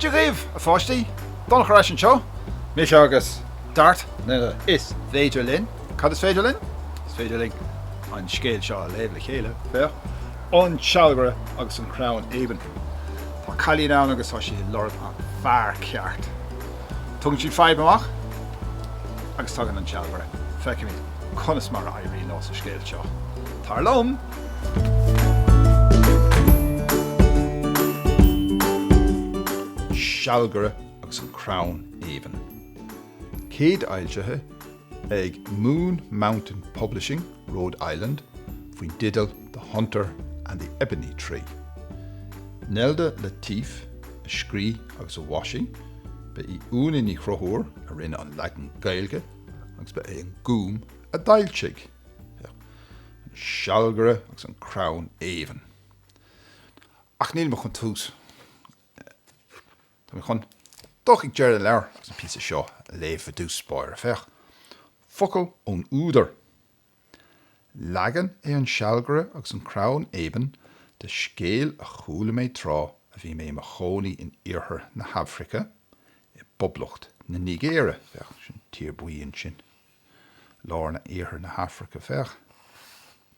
Dia dhaoibh, a pháistí! Donncha ar ais anseo, mise agus Dart, mar is féidir linn. Cad is féidir linn? Is féidir linn an scéal seo a léamh le chéile, féach, An Sealgaire agus an Crann Éabainn. Tá cailín ann agus tá sí ag lorg an fear ceart. Tugann siad fadhb amach agus tagann an sealgaire. Feicimid conas mar a éiríonn leo sa scéal seo. Tar liom! sealgaire agus an crann éabainn. Céad fhoilsithe. ag Moon Mountain Publishing, Rhode Island, faoin teideal The Hunter and the Ebony Tree. Nelda LaTeef a scríobh agus a mhaisigh, ba í Úna Ní Chonchúir a rinne an leagan Gaeilge agus ba é an Gúm a d'fhoilsigh é. An Sealgaire agus an Crann Éabainn. Ach níl mé chun tús. Tá mé chun dul chuig deireadh an leabhair agus an píosa seo a léamh i dtús báire, féach, focal ón údar, 'Leagan é An Sealgaire agus an Crann Éabainn de scéal a chuala mé tráth a bhí mé i mo chónaí in Iarthar na hAfraice, i bPoblacht na Nigéire', féach, sin tír bhuí ansin, lár na, Iarthar na hAfraice, féach.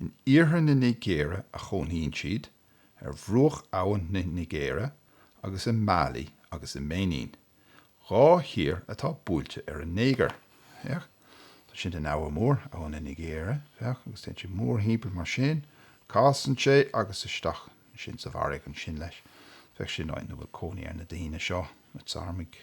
In iarthar na Nigéire a chónaíonn siad, ar bhruach abhann na Nigéire, agus i Mailí agus i mBéinín, dhá thír atá buailte ar an Nigéir. Féach, tá sin an Abha Mór, Abha na Nigéire, féach, agus téann sé mórthimpeall mar sin, casann sé agus isteach ansin sa bhfarraige ansin leis. Féach, sin áit ina bhfuil cónaí ar na daoine seo, na tSarmaigh.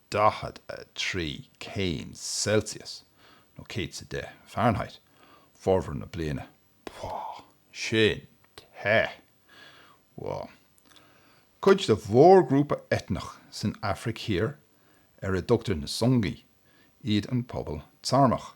43 céim Celsius, nó 100 is a deich Fahrenheit, formhór na bliana. Bhal, sin te! Bhal, cuid de mhórghrúpa eitneach san Afraic Thiar ar a dtugtar na Songi iad an pobal Sarmach.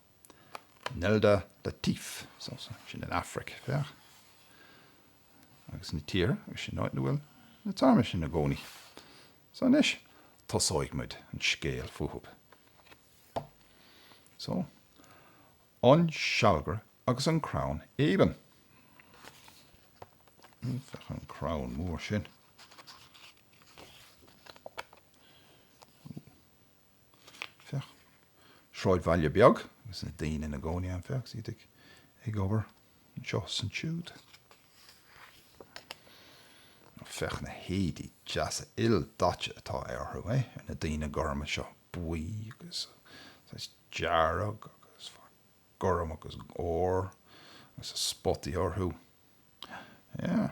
Nelda LaTeef, sin an Afraic, féach, agus na tíortha, agus sin áit ina bhfuil na tSarmaigh sin ina gcónaí. So anois, tosóidh muid an scéal fúthu. So, an sealgaire agus an crann éabainn. Féach an crann mór sin. féach, sráidbhaile beag agus na daoine ina gcónaí ann, féach, is iad ag obair anseo is ansiúd. Nó féach na héadaí deasa ildaite atá orthu, é, ar na daoine gorma seo, buí agus, saghas, dearg agus, féach, gorm agus ór agus spotaí orthu. Yeah.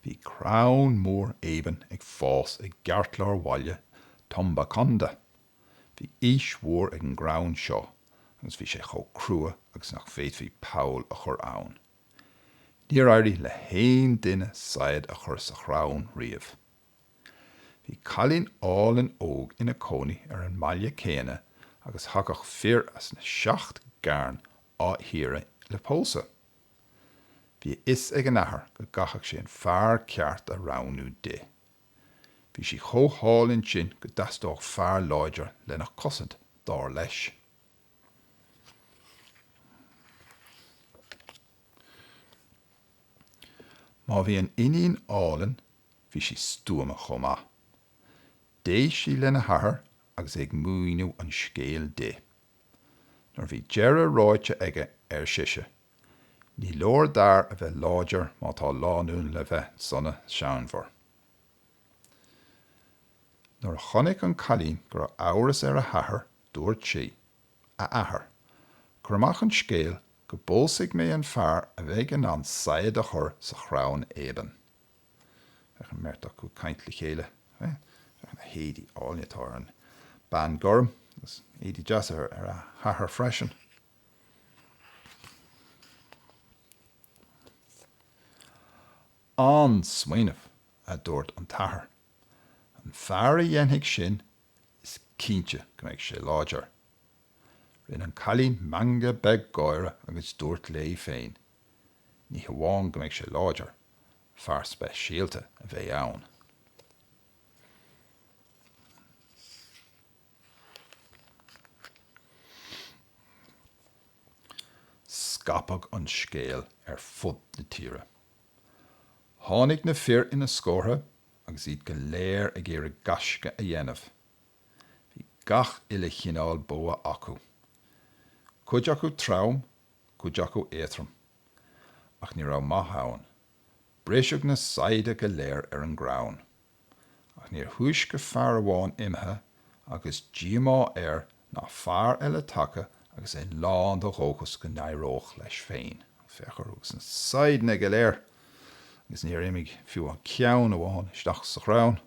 Bhí crann mór éabann ag fás i gceartlár bhaile Tumbaconda. Bhí aois mhór ag an gcrann seo agus bhí sé chomh crua agus nach bhféadfaí poll a chur ann. Níor éirigh le haon duine saighead a chur sa chrann riamh. Bhí cailín álainn óg ina cónaí ar an mbaile céanna agus thagadh fir as na seacht gcearn á hiarraidh le pósadh. Bhí a fhios ag an athair go gcaithfeadh sé an fear ceart a roghnú di. Bhí sí chomh hálainn sin go dteastódh fear láidir lena cosaint, dar leis. Má bhí an iníon álainn, bhí sí stuama chomh maith. D'éist sí lena hathair agus é ag míniú an scéil di. Nuair bhí deireadh ráite aige, ar sise, Ní leor d'fhear a bheith láidir má tá lánúin le bheith sona séanmhar. Nuair a chonaic an cailín go raibh amhras ar a hathair dúirt sí, A athair, cuir amach an scéal go bpósfaidh mé an fear a bheidh in ann saighead a chur sa chrann éabann. Féach an mbeirt acu ag caint le chéile. Féach na héadaí áilne atá ar an bean gorm, agus éadaí deasa ar a hathair freisin. An-smaoineamh, a dúirt an t-athair. An fear a dhéanfaidh sin, is cinnte go mbeidh sé láidir. Rinne an cailín meangadh beag gáire agus dúirt léi féin, Ní hamháin go mbeidh sé láidir, fear speisialta a bheidh ann. Scaipeadh an scéal ar fud na tíre. Tháinig na fir ina scórtha agus iad go léir ag iarraidh gaisce a dhéanamh. Bhí gach uile chineál bogha acu, cuid acu trom cuid acu éatrom, Ach ní raibh maith ann, briseadh na saighde go léir ar an gcrann, ach níor thúisce fear amháin imithe agus díomá air ná fear eile tagtha agus é lán de dhóchas go n-éireodh leis féin. Féach orthu agus na saighdeanna go léir, agus níor imigh fiú an ceann amháin isteach sa chrann.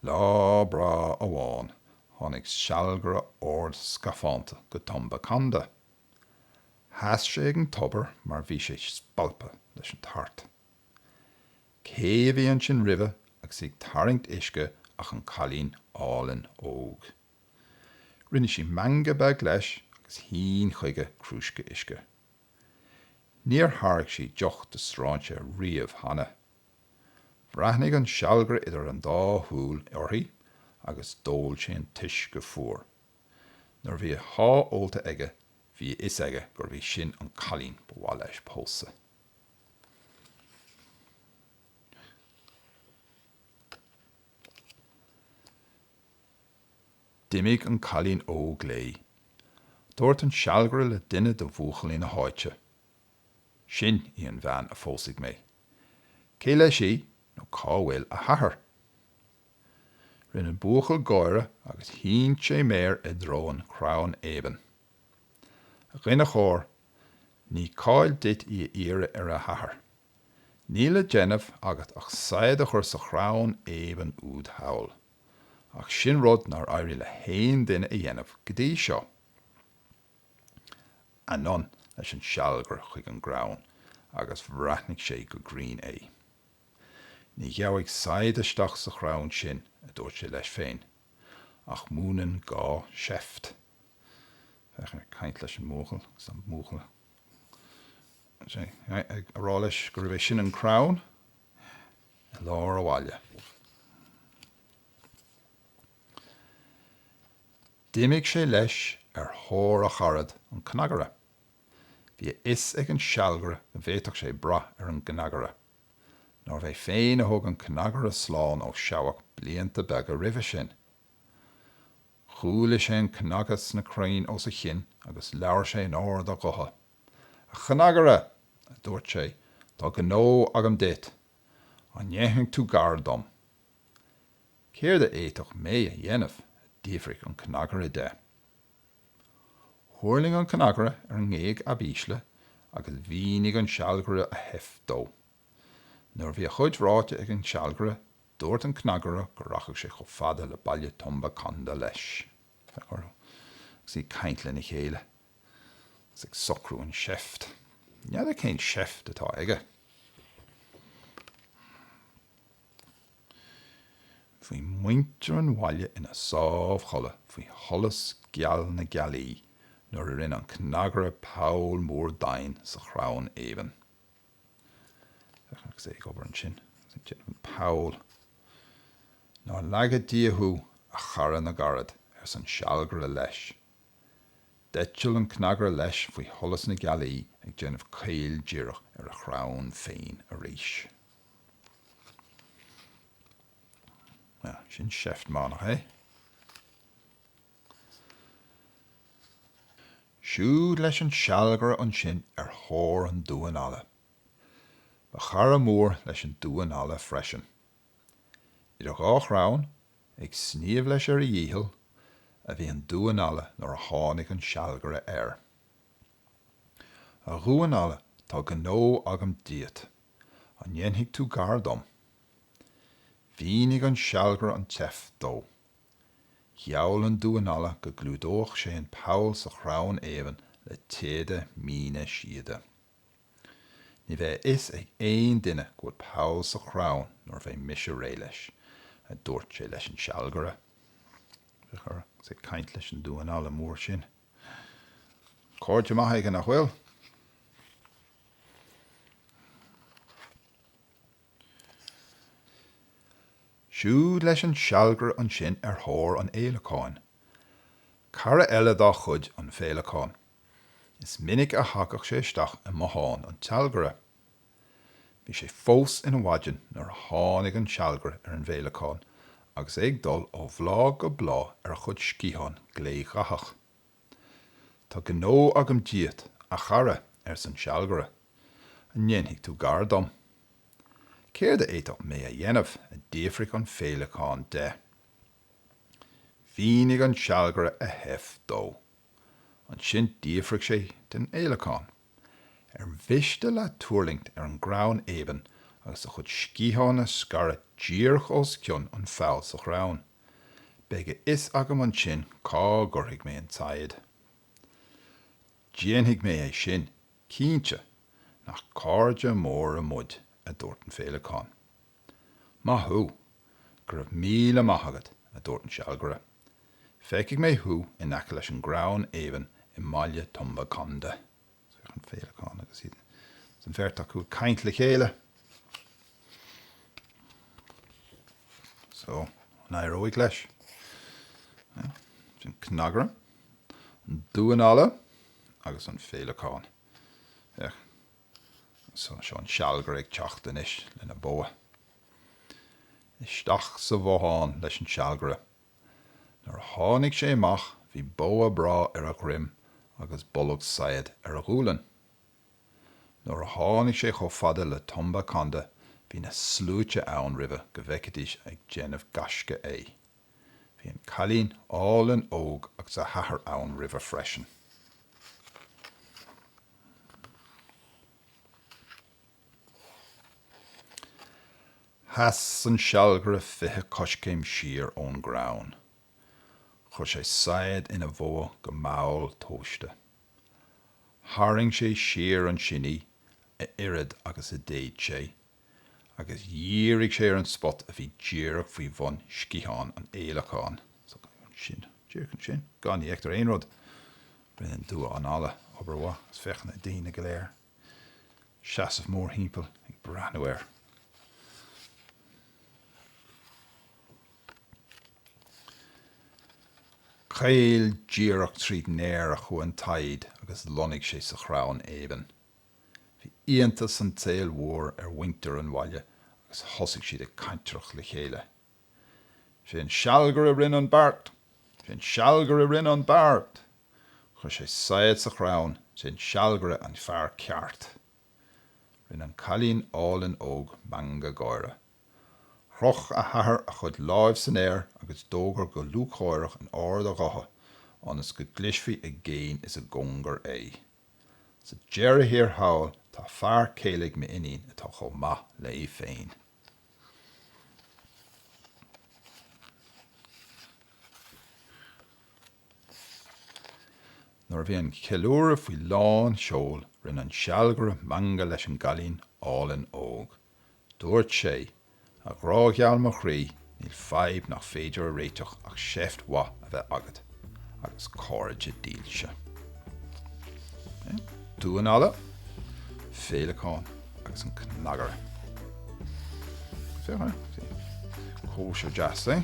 Lá breá amháin tháinig sealgaire ard scafánta go Tumba Kanda. Sheas sé ag an tobar mar bhí sé spalptha leis an tart. Cé a bhí ansin roimhe agus ag tarraingt uisce ach an cailín álainn óg. Rinne sí meangadh beag leis agus shín chuige crúisce uisce. Níor thairg sí deoch do stráinséir riamh cheana. Bhreathnaigh an sealgaire idir an dá shúil uirthi agus d'ól sé an t-uisce fuar. Nuair a bhí a sháith ólta aige bhí a fhios aige gurbh í sin an cailín ba mhaith leis pósadh. D'imigh an cailín óg léi. Dúirt an sealgaire le duine de bhuachaillí na háite Sin í an bhean a phósfaidh mé. Cé leis í nó cá bhfuil a hathair? Rinne an buachaill gáire agus shín sé méar i dtreo an chrainn éabainn. A dhuine chóir, ní call duit í a iarraidh ar a hathair. Níl le déanamh agat ach saighead a chur sa chrann éabainn úd thall. Ach sin rud nár éirigh le haon duine a dhéanamh go dtí seo. anonn leis an sealgaire chuig an gcrann agus bhreathnaigh sé go grinn é. Ní gheabhaidh saighead isteach sa chrann sin, a dúirt sé leis féin, ach múineann gá seift. Féach air ag caint leis an mbuachaill agus an buachaill ag rá leis gurb é sin an crann i lár an bhaile. D'imigh sé leis ar thóir a charad, an cnagaire. Bhí a fhios ag an sealgaire go bhféadfadh sé brath ar an gcnagaire. Nárbh é féin a thug an cnagaire slán ó sheabhac blianta beaga roimhe sin. Chuala sé an cnagadh sna crainn os a chionn agus labhair sé in ard a ghutha. A chnagaire! a dúirt sé, tá gnó agam duit. An ndéanfaidh tú gar dom? Céard a fhéadfadh mé a dhéanamh? a d'fhiafraigh an cnagaire de. Thuirling an cnagaire ar an ngéig ab ísle agus mhínigh an sealgaire a sheift dó. Nuair a bhí a chuid ráite ag an sealgaire, dúirt an cnagaire go rachadh sé chomh fada le Baile Tumba Conda leis. Féach orthu agus iad ag caint lena chéile agus ag socrú an seift. N'fheadar cén seift atá aige. Bhí muintir an bhaile ina sámhchodladh faoi sholas geal na gealaí nuair a rinne an cnagaire poll mór doimhin sa chrann éabainn. Féach agus é ag obair ansin agus ag déanamh an poll. Nár laga Dia thú, a chara na gcarad, arsa an sealgaire leis. D'eitil an cnagaire leis faoi sholas na gealaí ag déanamh caoldíreach ar a chrann féin arís. Sin seift mhaith nach é? Siúd leis an sealgaire ansin ar thóir an Damháin Alla. Ba chara mór leis an Damhán Alla freisin. Idir dhá chrann, ag sníomh leis ar a dhícheall, a bhí an Damhán Alla nuair a tháinig an sealgaire air. A Dhamháin Alla, tá gnó agam díot. An ndéanfaidh tú gar dom? Mhínigh an sealgaire an tseift dó. Gheall an Damhán Alla go gclúdódh sé an poll sa chrann éabainn le téada míne síoda. Ní bheidh a fhios ag aon duine go bhfuil poll sa chrann nuair a bheidh mise réidh leis, a dúirt sé leis an sealgaire. Féach air agus é ag caint leis an Damhán Alla mór sin. Cairde maithe aige, nach bhfuil? Siúd leis an sealgaire ansin ar thóir an fhéileacáin. Cara eile dá chuid, an féileacán. Is minic a thagadh sé isteach i mbothán an tsealgaire. Bhí sé fós ina mhaidin nuair a tháinig an sealgaire ar an bhféileacán agus é ag dul ó bhláth go bláth ar a chuid sciathán glédhathach. Tá gnó agam díot, a chara, arsa an sealgaire. An ndéanfaidh tú gar dom? Céard a fhéadfadh mé a dhéanamh? a d'fhiafraigh an féileacán de. Mhínigh an sealgaire a sheift dó. Ansin d'fhiafraigh sé den fhéileacán. Ar mhiste leat tuirlingt ar an gcrann éabainn agus do chuid sciathán a scaradh díreach os cionn an pholl sa chrann? Beidh a fhios agam ansin cá gcuirfidh mé an tsaighead. Déanfaidh mé é sin, cinnte, nach cairde móra muid, a dúirt an féileacán. Maith thú! Go raibh míle maith agat, a dúirt an sealgaire. Feicfidh mé thú in aice leis an gcrann éabainn i mbaile Tumba Kanda. An féileacán agus iad, agus an bheirt acu ag caint le chéile. So, an éireoidh leis? Sin cnagaire, an damhán alla agus an féileacán. Féach. So, seo an sealgaire ag teacht anois lena bogha. Isteach sa bhothán leis an sealgaire. Nuair a tháinig sé amach bhí bogha breá ar a dhroim agus bolgán saighead ar a ghualainn. Nuair a tháinig sé chomh fada le Tumba Kanda bhí na sluaite ann roimhe go bhfeicfidís ag déanamh gaisce é. Bhí an cailín álainn óg agus a hathair ann roimhe freisin. Sheas an sealgaire fiche coiscéim siar ón gcrann. Chuir sé saighead ina bhogha go mall tomhaiste. Tharraing sé siar an tsreang a oiread agus a d'fhéad sé agus dhírigh sé ar an spot a bhí díreach faoi bhun sciathán an fhéileacáin. Ansin, díreach ansin, ní fheictear aon rud, rinne an damhán alla obair mhaith. Is féach ar na ndaoine go léir ag seasamh mórthimpeall ag breathnú air. Caol díreach tríd an aer a chuaigh an tsaighead agus lonnaigh sé sa chrann éabainn. Bhí iontas an tsaoil mhóir ar mhuintir an bhaile agus thosaigh siad ag cantaireacht le chéile. Sé an sealgaire rinne an beart! Sé an sealgaire rinne an beart! Chuir sé saighead sa chrann, sé an sealgaire an fear ceart! Rinne an cailín álainn óg meangadh gáire. Chroch a hathair a chuid lámh san aer agus d'fhógair go lúcháireach in ard a ghutha ionas go gcloisfí i gcéin is i gcóngar é. Sa deireadh thiar thall, tá fear céile ag m'iníon atá chomh maith léi féin. Nuair a bhí an ceiliúradh faoi lán seoil, rinne an sealgaire meangadh leis an gcailín álainn óg. Dúirt sé, A ghrá gheal mo chroí, níl fadhb nach féidir a réiteach ach seift mhaith a bheith agat agus cairde dílse. Damhán alla, féileacán agus an cnagaire. Féach ar, cóisir dheas, é?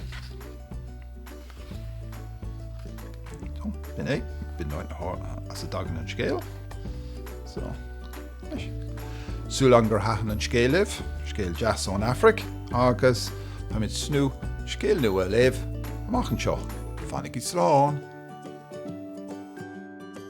Sin é, b'in í an áit as a dtagann an scéal. So, tá súil agam gur thaitin an scéal libh, scéal deas ón Afraic, agus táimid chun scéal nua a léamh amach anseo. Fanaigí slán!